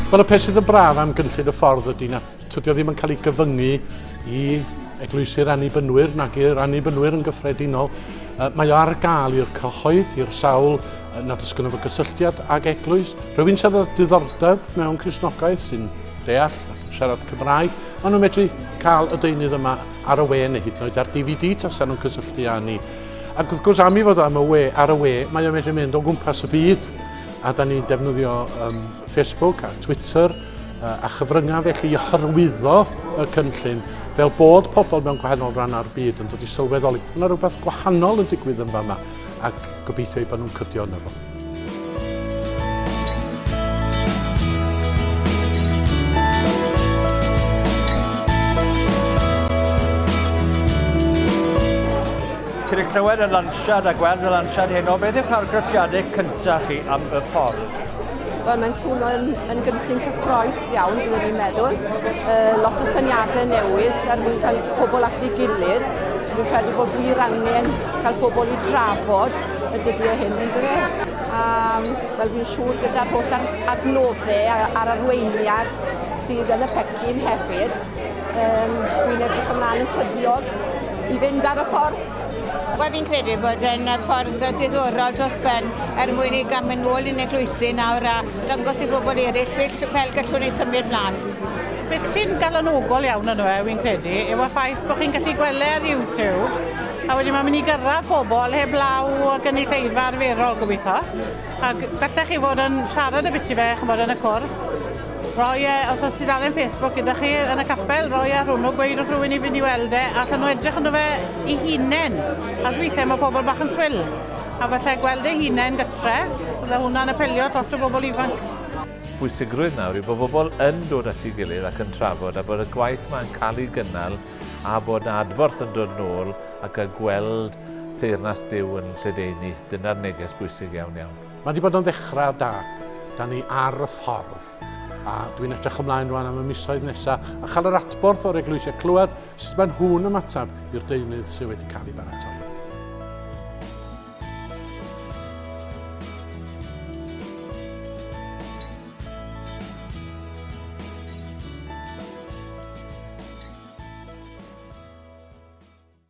Wel y peth sydd yn braf am gynllun y ffordd ydy na Tydi o ddim yn cael ei gyfyngu i eglwysi'r annibynwyr nag i'r annibynwyr yn gyffredinol. Mae o ar gael i'r cyhoedd, i'r sawl nad oes gynno fo gysylltiad ag eglwys. Rhywun sydd â diddordeb mewn Crisnogaeth sy'n deall ac yn siarad Cymraeg, maen nhw'n medru cael y deunydd yma ar y we neu hyd yn oed ar DVD tasa nhw'n cysylltu â ni. Ac wrth gwrs am i fod am y we, ar y we, mae o'n medru mynd o gwmpas y byd a da ni'n defnyddio um, Facebook a Twitter a chyfryngau felly i hyrwyddo y cynllun fel bod pobl mewn gwahanol rannau'r byd yn dod i sylweddoli bod yna rhywbeth gwahanol yn digwydd yn fama ac gobeithio ei bod nhw'n cydio yna fo. Cyn i clywed y lansiad a gweld y lansiad heno, beth yw'ch argraffiadau cyntaf chi am y ffordd? Wel, mae'n swnio yn, yn gynllun cyffroes iawn, byddwn i'n meddwl. Uh, lot o syniadau newydd er mwyn cael pobl at ei gilydd. Dwi'n credu bod wir angen cael pobl i drafod y dyddiau hyn yn dre. Um, Wel, fi'n siŵr gyda'r holl adnoddau a'r arweiniad sydd yn y pecyn hefyd, um, dwi'n edrych ymlaen yn tyddiog i fynd ar y ffordd. Wel, fi'n credu bod e'n ffordd diddorol dros ben er mwyn i gael mynd nôl yn eglwysi nawr a dangos i bobl eraill fel, fel gallwn ni symud mlaen. Beth sy'n galonogol iawn yno fe, fi'n credu, yw y ffaith bod chi'n gallu gweld e ar YouTube a wedyn mae'n mynd i gyrraedd pobl heblaw o gynulleidfa arferol, gobeithio. Ac bellach chi fod yn siarad y biti fe, chymod, yn y cwrdd. Roi e, os oes tudalen Facebook gyda chi yn y capel, roi ar hwnnw, gweud wrth rhywun i fynd i weld e, a allan nhw edrych ynddo fe i hunain. As weithiau mae pobl bach yn swyl, a falle gweld ei hunain gytre, bydde hwnna'n apelio at lot o bobl ifanc. Pwysigrwydd nawr yw bod bobl yn dod at ei gilydd ac yn trafod a bod y gwaith mae'n cael ei gynnal a bod na adborth yn dod nôl ac a gweld teyrnas Duw yn lledaenu. Dyna'r neges bwysig iawn iawn. Mae wedi bod yn ddechrau da. Da ni ar y ffordd. A dwi'n edrych ymlaen rwan am y misoedd nesaf a chael yr adborth o'r eglwysiau clywed sut maen nhw'n ymateb i'r deunydd sydd wedi cael ei baratoi.